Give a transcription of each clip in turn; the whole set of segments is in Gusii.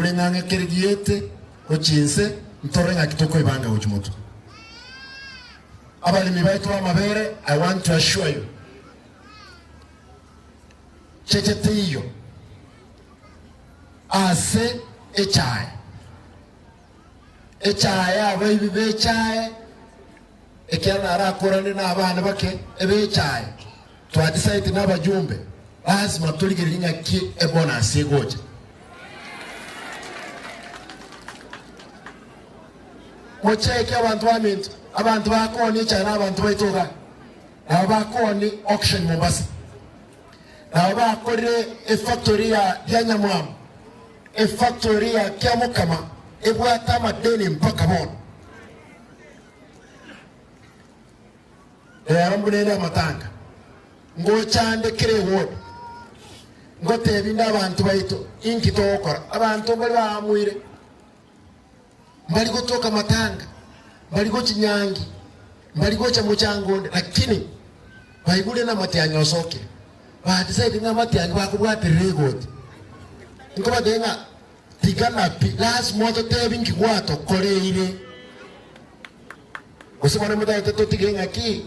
Ore ng'a ng'a kere giete gochia inse ntorore ng'aki tokoebanga gochia moto. Abaremi baito b'amabere, I want to assure you, cheche teiyo ase echae. Echae y'abaibi b'echae, ekiagera narakorane n'abana bake eb'echae. Twachisaete nabajumbe, lasima torigererie ng'aki ebonasi egocha. Mocheke abanto baminto, abanto bakoni echara nabanto baito iga, nabo bakoni auction Mombasa, nabo bakorire efactory ya ya Nyamwamu, efactory ya Kiamukama ebwate amadeni mpaka bono. Reero buna ere amatanga, ngochande kera ewodi, ngoteebie inde abanto baito, Inki togokora? Abanto mbari baamoire, mbari gotuoka amatanga, mbari gochia nyangi, mbari gocha mochango onde, lakini baigure ng'a amatianyi osokire, badecide ng'a amatianyi bakobwaterera egoti. Nkobateebia ng'a tigana pi, lasima ototeebie inki gwatokoreire. Gose mwane motagete totige ng'a ki?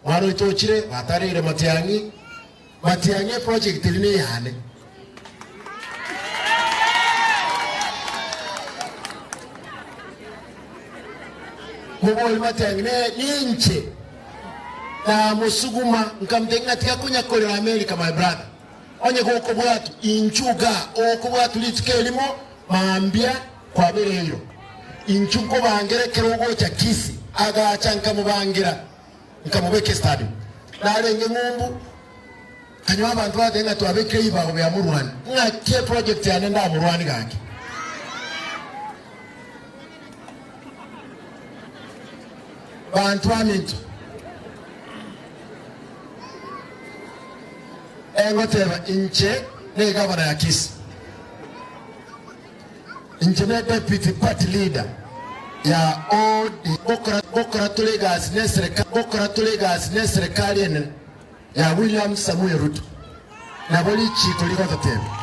Mwane oito ochire, batareire matiang'i, matiang'i eproject eri neyane. Mobori matiang'i ne, ninche namosuguma nkamtebia ng'a tiga konya korera America my brother. Onye gokobwatu inchuga, okobwatu rituko erimo, mambia Kwabera erio, inchuo nkobangera ekero ogocha Kisi. Agacha nkamobangera, nkamobeka esitadium. Narenge ng'umbu, kanywa abanto bagakanya ng'a twabekire ebibago bia morwani, ng'aki eprojekti yane ndamorwani gaki. Banto aminto, engoteba inche negavana ya Kisi. Inche ne David party leader ya ODM gokora tore egasi neserekari enene ya William Samoei Ruto nabo richiiko rigototeba.